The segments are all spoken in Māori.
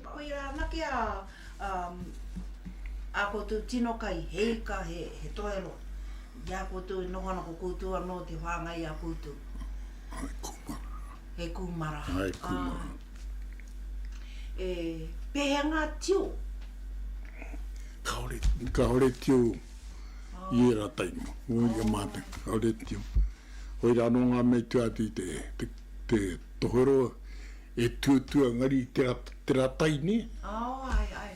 Koia anake a a koutou tino kai, he ika, he he toero i a koutou e noho ana ko koutou anō te whāngai i a koutou. Hai kūmara. He kūmara. Hai kūmara. E, pēhea ngā tio? Kāore, kāore tio i ērā taima. Wō ia mātou, kāore tio. Koira anō ngā mea i tua atu i te, te. te tohero e tuatua ngari te te ra tai ne. Oh ai ai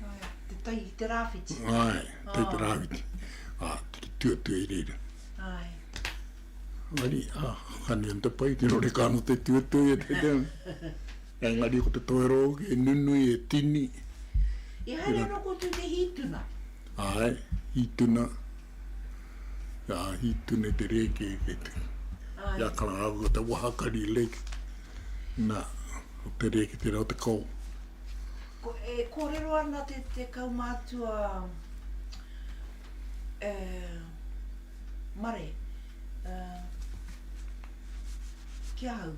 ai te tai i te rawhiti. Ai tai te rawhiti a te tuatua i reira. Ai. Ngari a kani an te pai te rore ka no te tuatua i te te e ngari ko te tohero hoki e nunui e tini. I haere ano kotou te hituna. Ai hituna. Ka hī tune te rēke kei te ia karahau o te wahakari lake. Nā, o te rēke tērā o te kao. Ko, e kōrero ana te, te kaumātua e, Mare, e, ki ahau,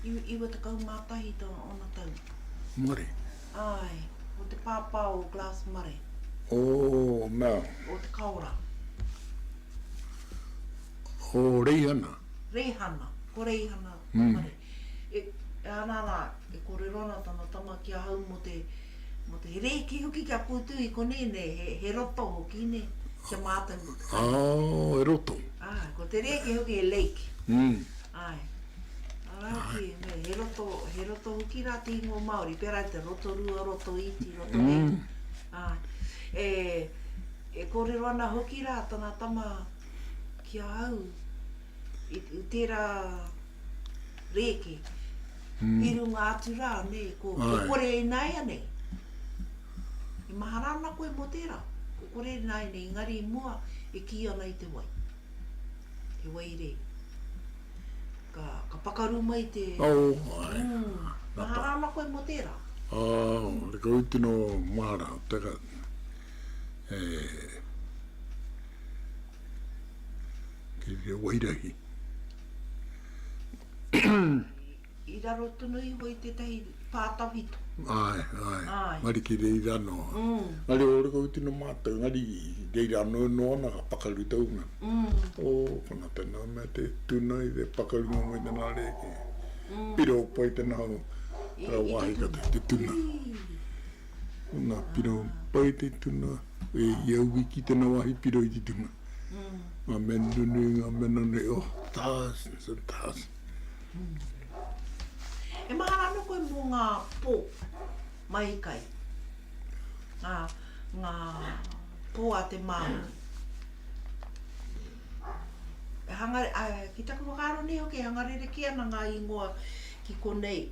iwa, iwa tekau mā tahi tō, ōna tau. Mare. Āe, o te pāpā o Glass Mare. O Mel. O Te Kaora. O Reihana. Reihana, ko Reihana Mare. E, ana rā, e kōrero ana tana tama ki ahau mō te, mō te rēki hoki kia kūtū i konei nei, he, he roto hoki, nē, ki a mātou ko te kai. Āe, he roto. Āe, ko te rēki hoki he lake. Āe. Araki, me, he roto, he roto hoki rā te ingoa Māori, pērā i te Rotorua, Rotoiti, Rotorehu. Mm. Ā, e, e kōrero ana hoki rā tana tama ki a au, i, i tērā rēke, mm. i runga atu rā, ne, ko, ko kore e nai anei. I mahara ana koe mō tērā, ko kore e nai anei, engari i mua, e kī ana i te wai. Te wai rei. Ka, ka pakaru mai te... Oh, ai. Mm. Mahara ana koe mō tērā? Oh, mm. te kau tino mahara. Taka. E... Te reo wairahi. I raro tonu iho i tetahi pa tawhito. Ae, ae. Ae. Ngari ki reira ano. Ngari o reko tino matou, ngari reira ano e no ana ka pakaru tau nga. O kona tena mea te tuna i te pakaru nga moe tena reke. Piro pai tena ho ra wahi ka te tuna. Na piro pai te tuna, e i au wiki tena wahi piro i te tuna. Nga mea nunu, nga mea nanu, oh, tas, tas. E mahara ana koe mō ngā pō mai kai, ngā, ngā pō a te Māori. E hanga, a, ki taku whakaaro nei hoki, e hanga rerekē ana ngā ingoa ki konei,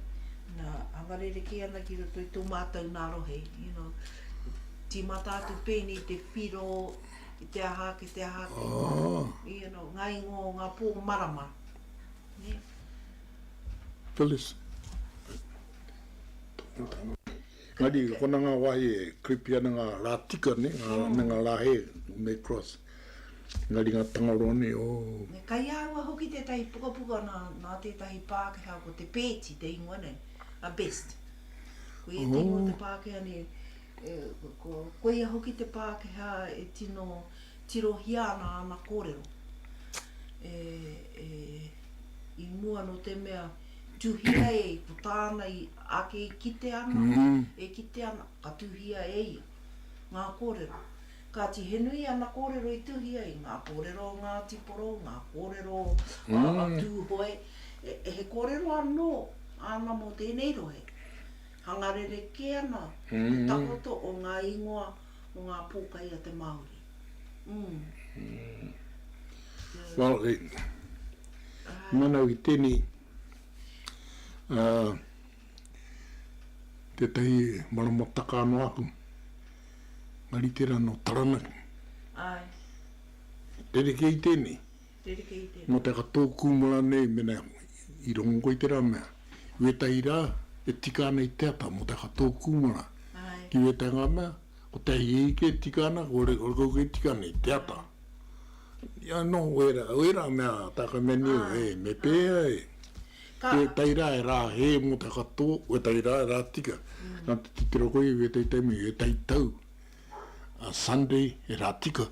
nā, hanga rerekē ana ki roto i tō mātou nā rohe, you know. Tīmata atu pēnei i te whiro, i te aha ake, te aha ake, you know, ngā ingoa o ngā pō marama. Phyllis. Engari, kona ngā wāhi e creepy ana ngā rā tika nei, me ngā rā hē, when they cross. Engari ngā tangaroa nei, oh. Me kai āhua hoki tētahi pukapuka nā, nā tētahi Pākehā, ko Te Pēti te ingoa nei, a Best. Ko ia te ingoa o te Pākehā nei, ko, koia hoki te Pākehā e tino. Tirohia ana āna kōrero. E, e, i mua nō te mea, tuhia e, ko tāna i, ake i kite ana, e kite ana, ka tuhia e ia, ngā kōrero. Kāti, he nui ana kōrero i tuhia, i ngā kōrero o Ngāti Porou, ngā kōrero o, a, a Tūhoe, e, e, he kōrero anō āna mō tēnei rohe. Hanga rerekē ana te takoto o ngā ingoa. o ngā pōkai a te Māori. Well, kei manau i tēnei, tētahi marama taka anō aku, ngā ritenga nō Taranaki. Rerekē i tēnei. Nō te aha tō kūmara nei mena i rongo koe i tērā mea, i wētahi rā e tika ana i te ata, mō te aha tō kūmara ki wētahi ngā mea, ko te ahihiki e tika ana, ko rekaukau e tika ana i te ata. Ia nō ērā mea tāka mea nei, hē, me pēhea e, ki wētahi rā e rā hē mō te aha tō, wētahi rā e rā tika. Nā te titiro koe i wētahi taimi, wētahi tau. Sunday, he rā tika.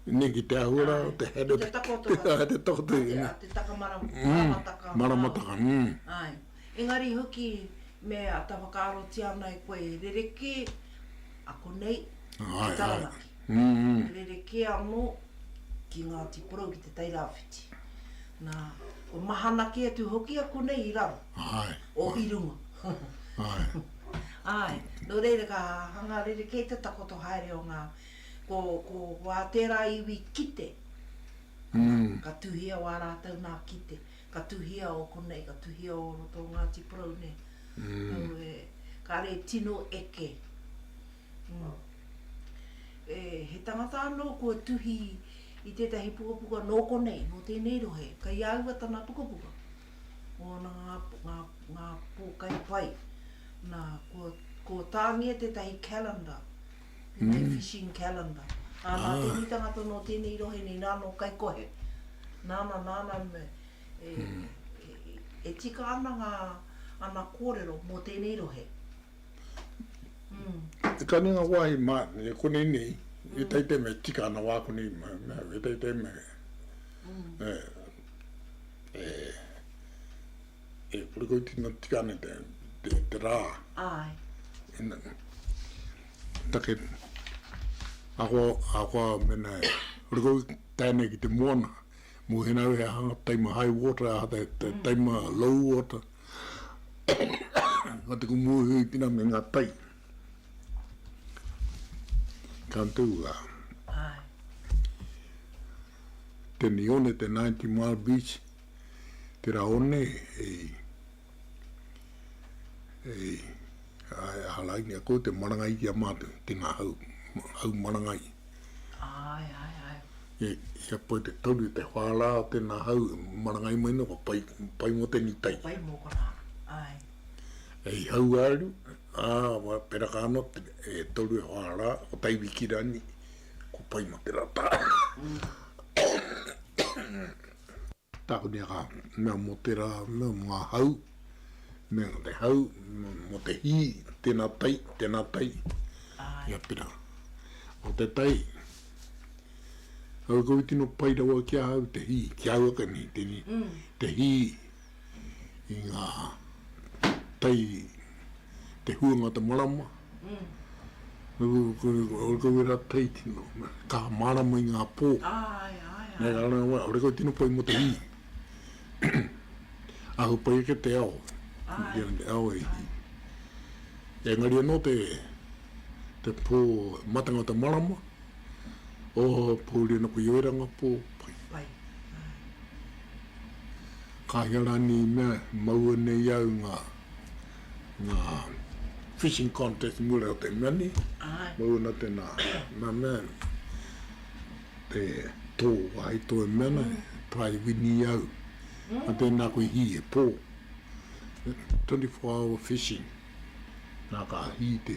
Nei ki te ahua rā, te Hera. Te takoto. Te takoto. Te takamarama, maramataka. Maramataka, mm. Ai. Engari hoki, me ata whakaarotia ana e koe, rerekē, ako nei, ki Taranaki. Rerekē anō, ki Ngāti Porou, ki Te Tairāwhiti. Nā, kua mahana kē atu hoki a konei i raro. Ai. O i runga. Ae. Ae. No reira ka hanga rerekē te takoto haere o nga, ko, ko, ko a tera iwi kite, ana, ka tuhia wa ratou na kite, ka tuhia o konei, ka tuhia o roto o Ngati Porou nei. Aue, kare tino eke. E, he tangata ano kua tuhi i tetahi pukapuka no konei, no tenei rohe, kei aua tana pukapuka. Moana ngā, ngā, ngā pōkai pai. Nā, ko, ko Tāngia tētahi calendar, tētahi mm. fishing calendar. Ā, nā ah. tēnei tanga tono o tēnei rohe nei, nā no kai kohe. Nāna, nāna, me, e, mm. e, e, e tika ana ngā, ana kōrero mō tēnei rohe. Mm. E ka nenga wāhi mā, e kone nei, mm. e teitai me tika ana wā kone, e teitai me. Mm. E, E, e whakakoitinotia ana te, te, te rā. Ai. Ina, take, ako, ako a mena e, whakakau tēne ki te moana, mō hena we aha, taima high water, aha te, te mm. taima low water. Nga te kumuhi pina me ngā tai. Ka tū a. Ae. Tēnei one te Ninety Mile Beach, tērā one i i hālai nei ko te marangai ki a mātou, tēnā hau, hau marangai. Ae, ae, ae. E, i a pai te tauri, te whārā o tēnā hau, marangai mai nō, ka pai, pai mō tēnei tai. Ka pai mō konā, ae. Hei hau āru. Ā, kua peraka anō te e toru e whā rā, ko Taiwiki rani, ko Paimate rā tā. Tākuni a Kahu, Mea mō tērā, mea mō ngā hau, mea mō te hau, mea mō te hī, tēnā tai, tēnā tai, ia pera. Ko te tai, Kaua, koe tino pai rawa ki ahau te hī, ki ahau ake nei, tēnei, te hī. i ngā tai te huanga te marama, ore koe wera tai tino, ka marama i ngā pō. Ai, ai, ai. Nei rāna wā, ore koe tino pai mo te hī. Ahu pai ake te ao. Ai. Te ao e hī. Engari anō te, te pō matanga te marama, o pōuri ana koe i oiranga pō, pai. Pai. Kāinga rānei i mea, maua nei au ngā, ngā fishing contest mura o te mea nei, maua na tēnā, nā mea, te tō wāhi tō e mea nei, Pai wini i au, nā tēnā koe hī he pō, 24 hour fishing, nā ka hī te,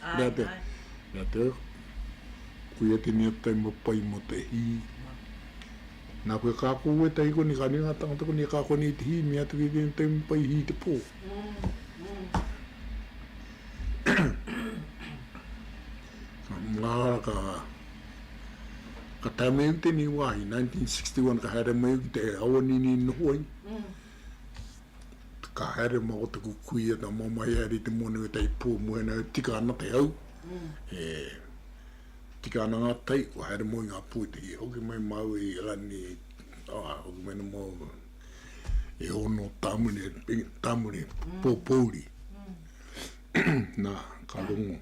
Mea te, mea te, kuia tēnei atu taima pai mō te hī. Nā koe ka ako koe tahi koni, kāre ngā tāngata koni e ka ako nei te hī, mea atu ki tēnei taima pai hī te pō. Ngā hara ka, ka tae mai au tēnei wāhi, 1961 ka haere mai au ki te awanini noho ai. ka haere ma o taku kui e ta mamae haere i te monu e tai po mo ena e tika ana te au e tika ana nga tai ko haere mo i nga pui te hoki mai mau i rani a o me no mo e ono tamune tamune po pouri na ka rongo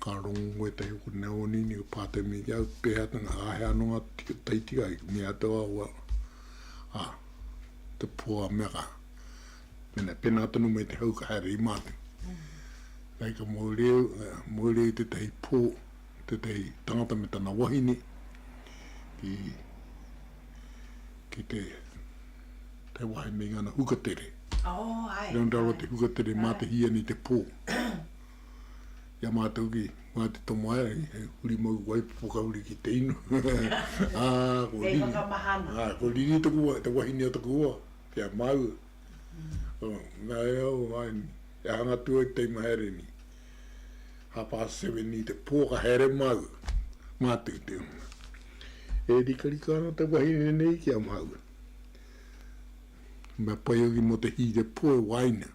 ka rongo e tai ko ne oni ni pa te mi ya pe ha tanga a he ano nga tai tika i mi a to a a te po a Mega. Pena, pena tonu me te hau ka haere i Māti. Kai ka moereu, moereu i tetahi po, tetahi tangata me tana wahine, ki, ki te, te wahine i ngana hukatere. Oh, ai. Rau, rau te hukatere mā te hiani te po. i a mātou ki Ngāti Tomoerangi, he huri mau wai whakahuri ki te inu. Ā, ko Riri. Kei whakamaha ana. Ā, ko Riri taku, te wahine o taku hoa, ki a māua. Ā, nā reira au, āe, e hanga atu au ki te imahere nei. Half past seven i te pō ka haere māua, mātou i te hunga. E rikarika ana te wahine nei ki a māua. Mea pai hoki mō te hīrepō e waina.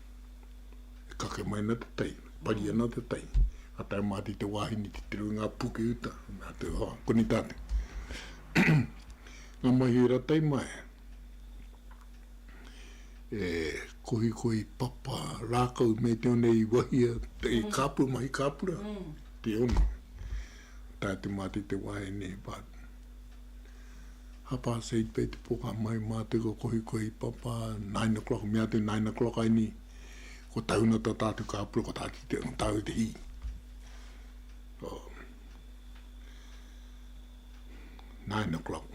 E kake mai ana te taimi, e pari ana te taimi. Ka tae mātou te wāhine titiro i ngā puke uta, nā te hoa, koni tātou. ngā mahi ora taimaea, e kohikohi papa rākau me te one i wahia, te i kāpū mahi kāpura, te one. Tae te mātou te wāhine, but, Half past eight pei te poka mai ma te ko kohi kohi papa nine o'clock mea te nine o'clock ai ni ko tauna ta tatu ka pura ko tatu te ko tatu te hi oh. nine o'clock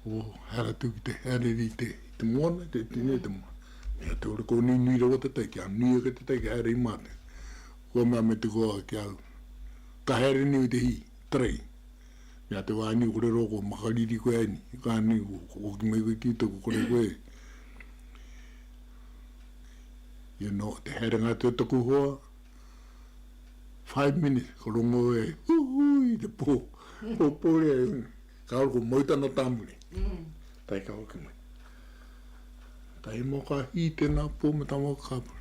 o oh, hara tu ki te hara ri te te moana te tine te moana mea te ora ko nui nui rawa te tai kia nui ake te tai kia hara i mate kua mea me te koa kia ka hara ni te hi Tari. Ia te wā ni kore rō kua makariri koe ai ni, ka ni kua hoki mai koe ki taku kore koe. You know, te haerenga atu e taku hoa, five minutes, ka rongo e, Huhui, te pō, pō pō rea e huna. Ka ora kua mau tana tāmuri. Tae ka hoki mai. Tae mō ka hī tēnā pō me tā mō ka pura.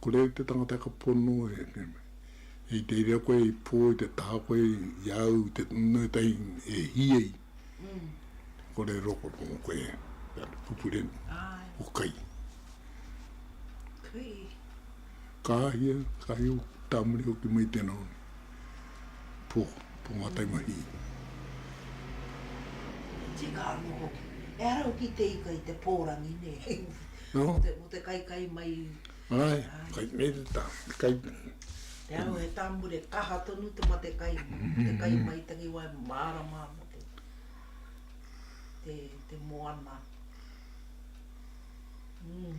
Ko Reo te tangata ka pono e te reo koe i po i te taha koe i au i te nui tai e hi ai ko re roko ko mo koe pupure o kai kai kai o tamuri o ki mai tena o ni Pō, pō ngā taumahi. Tika anō hoki. Ehara hoki te ika i te pōrangi, nē? Nō. Mō te kaikai mai. Āe, kai nei te tā, te kai. Te ao he tāmure kaha tonu te mate kai, te kai mai tangi wai mārama ana te, te, te moana. Mm.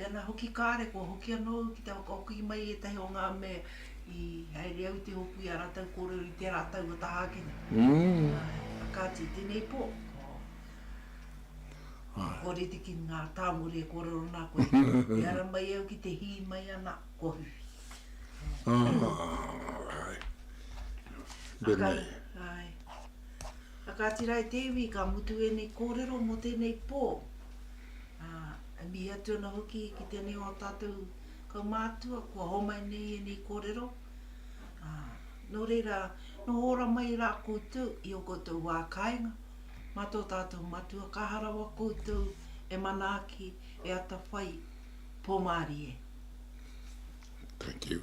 Pēnā hoki kāre, kua hoki anō au ki te whakahoki mai i ētahi o ngā mea i haere au i te hōpū i a rātou kōrero i tērā tau o Tāhākene. Ā, kāti, tēnei pō, ka kore te kimi ngā tāngore e kōrero ana koe, i ara mai au ki te hī mai ana, kua whiwhi. Ā, āe. Pēnei. Āe. Ā kāti rā e te iwi, ka mutu ēnei kōrero mō tēnei pō. Ā, e mihi atu ana hoki ki tēnei o ō tātou kaumātua kua homai nei ēnei kōrero, ā, nō reira, noho ora mai rā koutou i ō koutou wā kāinga, mā tō tātou Matua, ka aha rawa koutou e manaaki, e atawhai, pōmārie. Thank you.